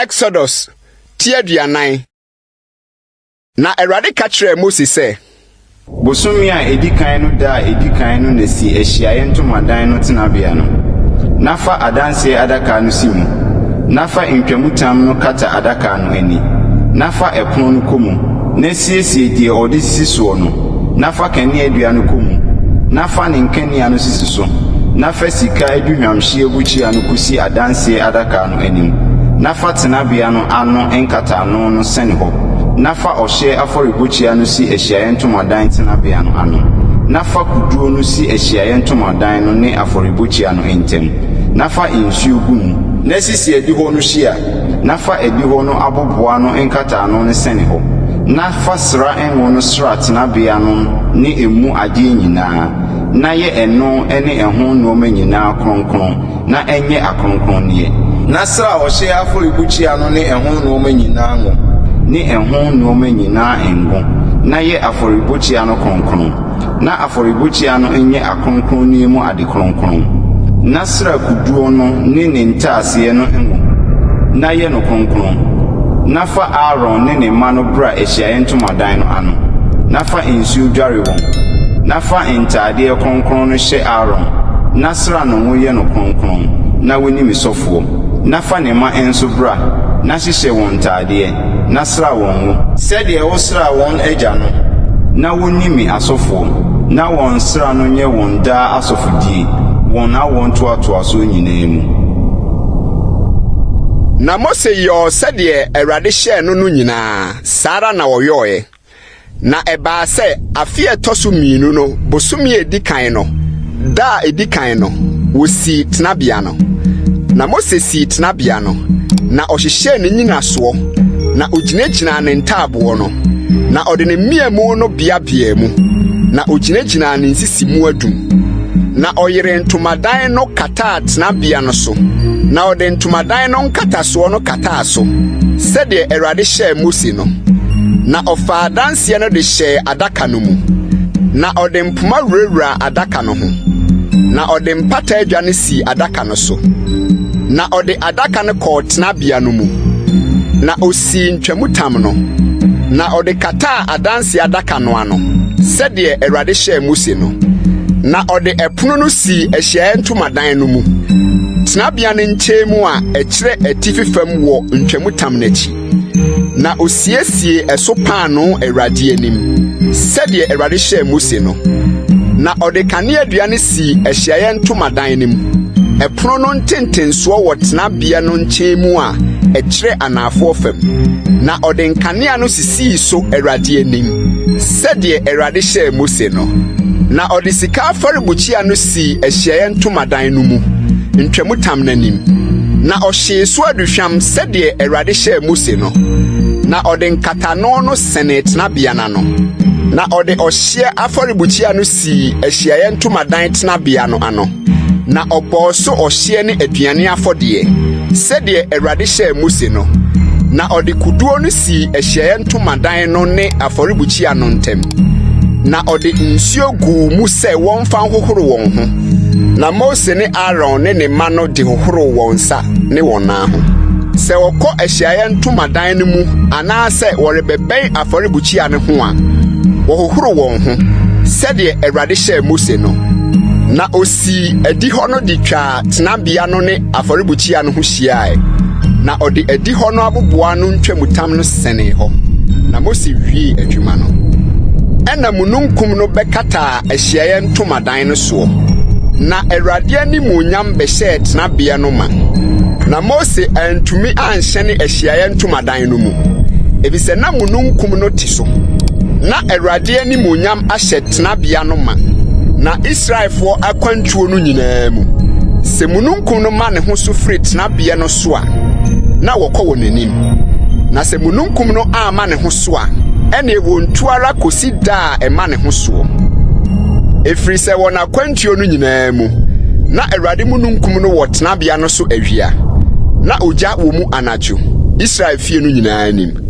Exodus ti aduanan na Awurade ka kyerɛɛ Mose sɛ. Bosome a edi kan no da a edi kan no na si ahyiaeɛ ntomadan no tenabea no, na fa adanseɛ adaka no si mu, na fa ntwamutam no kata adaka no ani, na fa ɛpono no kɔ mu, na Siesie deɛ ɔde sisi soɔ no, na fa kaneadua no kɔ mu, na fa ne nkanea no sisi so, na fa sika aduhwamhyeɛ bukyia no kɔsi Adanseɛ Adaka no anim, na fa tenabea no ano nkataano no sɛne hɔ, na fa ɔhyeɛ afɔrebukyia no si ahyiaeɛ ntomadan tenabea no ano, na fa koduo no si ahyiaeɛ ntomadan no ne afɔrebukyia no ntam, na fa nsuo gu mu. Na sisi adihɔ no hyia Na fa adihɔ no abobow ano nkataano no sɛn hɔ, na fa sra ngo no sra tenabea no ne emu ade nyinaa, na yɛ ɛno ne ɛho nneɛma nyinaa kronkron, na ɛnyɛ akronkronneɛ. Na sra ɔhyeɛ afɔrebukyia no ne ɛho nneɛma nyinaa ngo, ne ɛho nneɛma nyinaa ngo, na yɛ afɔrebukyia no kronkron. Ná afɔrebukyia no nyɛ akronkronne mu ade kronkron. Ná Sira koduo no ne ne ntaaseɛ no ngo, na yɛ no kronkron. Na fa Aaron ne ne mma no bra ahyiaeɛ ntomadan no ano, na fa nsuo dware wɔn. Na fa ntaadeɛ kronkron no hyɛ Aaron, na sra no ngo yɛ no kronkron, na wone me sɔfoɔ. Na fa ne mma nso bra, na hyehyɛ wɔn ntaadeɛ. na sra wɔn ngo. Sɛdeɛ wosraa wɔn agya no. Na wɔnni me asɔfoɔ. Na wɔn nsra no nyɛ wɔn daa asɔfodie wɔn awoɔntoatoasoɔ nyinaa mu. Na Mose yɔɔ sɛdeɛ Awurade hyɛɛ no no nyinaa, saa ara na ɔyɔeɛ. Na ɛbaa sɛ afe a ɛtɔ so mmienu no bosome a edi kan no da a edi kan no, wosii tenabea no. Na Mose sii tenabea no, na ɔhyehyɛɛ ne nnyinasoɔ, na ogyinagyinaa ne ntaaboɔ no, na ɔde ne mmeamu no beabeaa mu, na ogyinagyinaa ne nsisi mu adum. Na ɔyeree ntomadan no kataa tenabea no so, na ɔde ntomadan no nkatasoɔ no kataa. taa so, sɛdeɛ Awurade hyɛɛ Mose no. Na ɔfaa adanseɛ no de hyɛɛ adaka no mu, na ɔde mpoma wurawuraa adaka no ho, na ɔde mpata adwa no sii adaka no so. Na ɔde adaka no kɔɔ tenabea no mu, na osii ntwamutam no, na ɔde kataa adanseɛ adaka no ano, sɛdeɛ Awurade hyɛɛ Mose no. Na ɔde ɛpono no sii Ahyiaeɛ Ntomadan no mu, tenabea no nkyɛn mu a ɛkyerɛ atifi fam wɔ ntwamutam no akyi. Na osiesiee ɛso paanoo Awurade anim, sɛdeɛ Awurade hyɛɛ Mose no. Na ɔde kaneadua no sii ahyiaeɛ ntomadan no mu. Ɛpono no ntentensoɔ wɔ tenabea no nkyɛn mu a ɛkyerɛ anaafoɔ fam, na ɔde nkanea no sisii so Awurade anim, sɛdeɛ Awurade hyɛɛ Mose no. Na ɔde sika afɔrebukyia no sii ahyiaeɛ ntomadan no mu ntwamutam no anim, na ɔhyee so aduhwam sɛdeɛ Awurade hyɛɛ Mose no, na ɔde nkatano no sɛnee tenabea no ano, na ɔde ɔhyeɛ afɔrebukyia no sii ahyiaeɛ ntomadan tenabea no ano, na ɔbɔɔ so ɔhyeɛ ne aduane afɔdeɛ sɛdeɛ Awurade hyɛɛ Mose no, na ɔde kuduo no sii ahyiaeɛ ntomadan no ne afɔrebukyia no ntam, na ɔde nsuo guu mu sɛ wɔn fa nhohoro wɔn ho, na Mose ne Aaron ne ne mma no de hohoro wɔn nsa ne wɔn nan ho. Sɛ wɔkɔ ahyiaeɛ ntomadan no mu anaasɛ wɔrebɛbɛn afɔrebukyia no ho a, wɔhohoro wɔn ho sɛdeɛ Awurade hyɛɛ Mose no. Na osii adihɔ no de twaa tenabea no ne afɔrebukyia no ho hyiae, na ɔde adihɔ no aboboa no ntwamutam no sɛnee hɔ. Na Mose wiee adwuma no. Ɛnna mununkum no bɛkataa ahyiaeɛ ntomadan no soɔ, na Awurade animuonyam bɛhyɛɛ tenabeɛ no ma. Na Mose antumi anhyɛne ahyiaeɛ ntomadan no mu, efisɛ na mununkum no te so. Ná Awurade animuonyam ahyɛ tenabea no ma, na Israelfoɔ akwantuo no nyinaa mu, sɛ mununkum no ma ne ho so firi tenabeɛ no so a, na wɔkɔ wɔn anim, na sɛ mununkum no amma ne ho so a, ɛnneɛ wɔntu ara kɔsi da a a ɛma ne ho soɔ. Ɛfiri sɛ wɔ n'akwantuo no nyinaa mu, na Awurade mununkum no wɔ tenabea no so awia, na ogya wɔ mu anadwo, Israel fie no nyinaa anim.